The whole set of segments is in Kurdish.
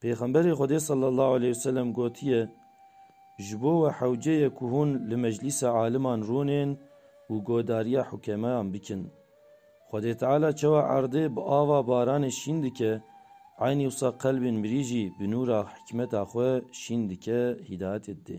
Pêxemberê Xwedê sallallahu aleyh ve sellem gotiye, Ji bo we hewce ye ku hûn li meclîsa aliman rûnên û godariya hukemayan bikin. Xwedê Teala çawa erdê bi ava baranê şîn dike, eynî wisa qelbên mirî jî bi nûra hikmeta xwe şîn dike, hîdayetê didê.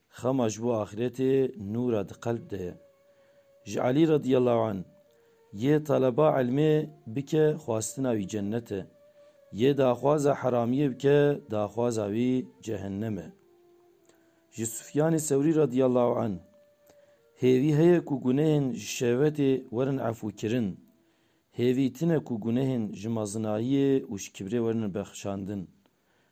Xema ji bo axîretê nûra di qelb de ye. Ji Elî radîyallahu anh, Yê taleba îlmê bike xwastina wî cennet e. Yê daxwaza heramiyê bike daxwaza wî cehennem e. Ji Sufyanê Sewrî radîyallahu anh, Hêvî heye ku gunehên ji şehwetê werin efûkirin. Hêvî tune ku gunehên ji mezinayiyê û ji kibrê werin bexşandin.